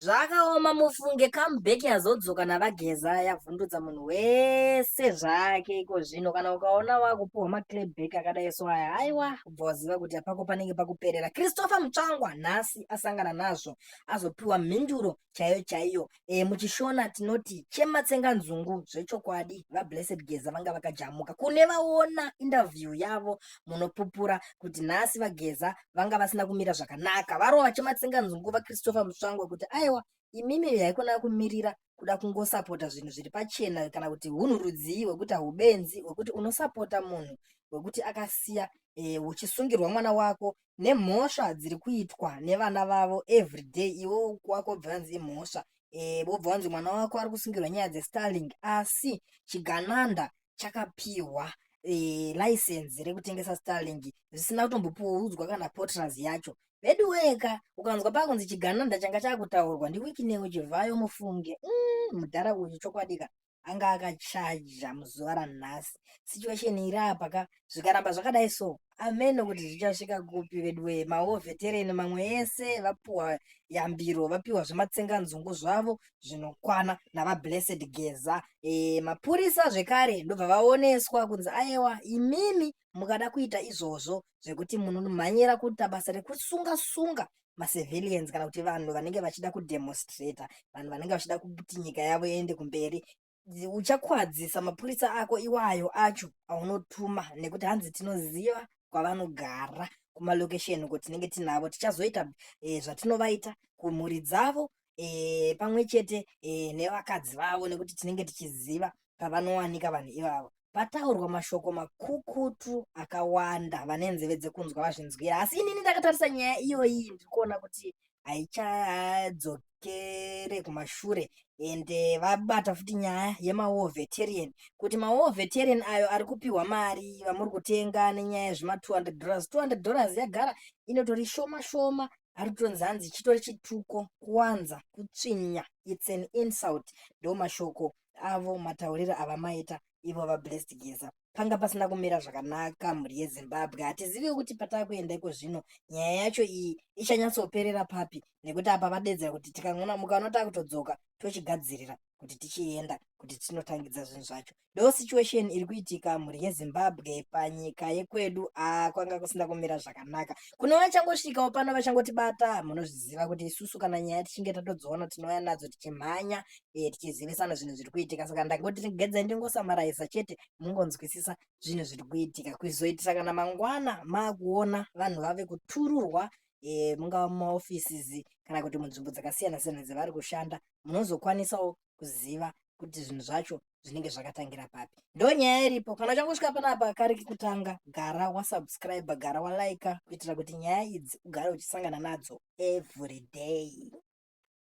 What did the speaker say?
Zvakaoma mufunge comeback yazodzoka navageza yavhundutsa munhu wese zvake iko zvino kana ukaona wakupiwa maclabback akadai so aya haiwa ubva waziva kuti apako panenge pakuperera christopher mutsvangwa nhasi asangana nazvo azopiwa mhinduro chaiyo chaiyo e, muchishona tinoti chematsenga nzungu zvechokwadi vablessed geza vanga vakajamuka kune vaona interview yavo munopupura kuti nhasi vageza vanga vasina kumira zvakanaka varo vachimatsenga nzungu vachristopher mutsvangwa kuti aiwa imimi haikona kumirira kuda kungosapota zvinhu zviri pachena kana kuti hunhu rudzii hwekuti haubenzi hwekuti unosapota munhu hwekuti akasiya e, uchisungirwa mwana wako nemhosva dziri kuitwa nevana vavo everyday iwo wako wobva vanzi imhosva e, wobva wanzi mwana wako ari kusungirwa nyaya dzestarling asi chigananda chakapihwa e, license rekutengesa starlink zvisina kutombopoudzwa kana potras yacho vedu weka ukanzwa pakunzi chigananda changa chakutaurwa ndiwikinewo chivhayo mufunge mm, mudhara uyu chokwadika anga akachaja muzuva ranhasi situation iri apa ka zvikaramba zvakadai so ameno kuti zvichasvika kupi veduwe maovetereni mamwe ese vapiwa yambiro vapiwa zvematsenganzungu zvavo zvinokwana navablessed geza e, mapurisa zvekare ndobva vaoneswa kunzi ayewa imimi mukada kuita izvozvo zvekuti munomhanyira kuita basa rekusunga sunga macivilians kana kuti vanhu vanenge vachida kudemonstrata vanhu vanenge vachida kuti nyika yavo iende kumberi uchakwadzisa mapurisa ako iwayo acho aunotuma nekuti hanzi tinoziva kwavanogara kumalokesheni uko tinenge tinavo tichazoita e, zvatinovaita kumhuri dzavo e, pamwe chete e, nevakadzi vavo nekuti tinenge tichiziva pavanowanika vanhu ivavo pataurwa mashoko makukutu akawanda vane nzeve dzekunzwa vazvinzwira asi inini ndakatarisa nyaya iyoyi ndiri kuona kuti haichadzokere kumashure and eh, vabata futi nyaya yemawar veterian kuti mawar veterian ayo ari kupiwa mari vamuri kutenga nenyaya yezvima 200 dollars 200 dollars yagara inotori shoma shoma ari kutonzi hanzi chitori chituko kuwanza kutsvinya its an insult ndo mashoko avo matauriro avamaita ivo vablessed geza panga pasina kumira zvakanaka mhuri yezimbabwe hatizivi kuti pataa kuenda iko zvino nyaya yacho iyi ichanyatsoperera papi nekuti apa vadedzera kuti tikangona mukaona taa kutodzoka tochigadzirira kuti tichienda kuti tinotangidza zvinhu zvacho ndo situation iri kuitika mhuri yezimbabwe panyika yekwedu a kwanga kusina kumira zvakanaka kune vachangosvikawo pano vachangotibata munozviziva kuti isusu kana nyaya tichinge tatodziona tinouya nadzo tichimhanya eh, tichizivisana zvinhu zviri kuitika saka ndakoti tigedza ndingosamaraisa chete mungonzwisisa zvinhu zviri kuitika kuzoitisa kana mangwana maakuona vanhu vave kutururwa e, mungava mumaoffices kana kuti munzvimbo dzakasiyana siyana dzevari kushanda munozokwanisawo kuziva kuti zvinhu zvacho zvinenge zvakatangira papi ndo nyaya iripo kana uchangosvika panapa kari kekutanga gara wasubscribe gara walaika kuitira kuti nyaya idzi ugare uchisangana nadzo everyday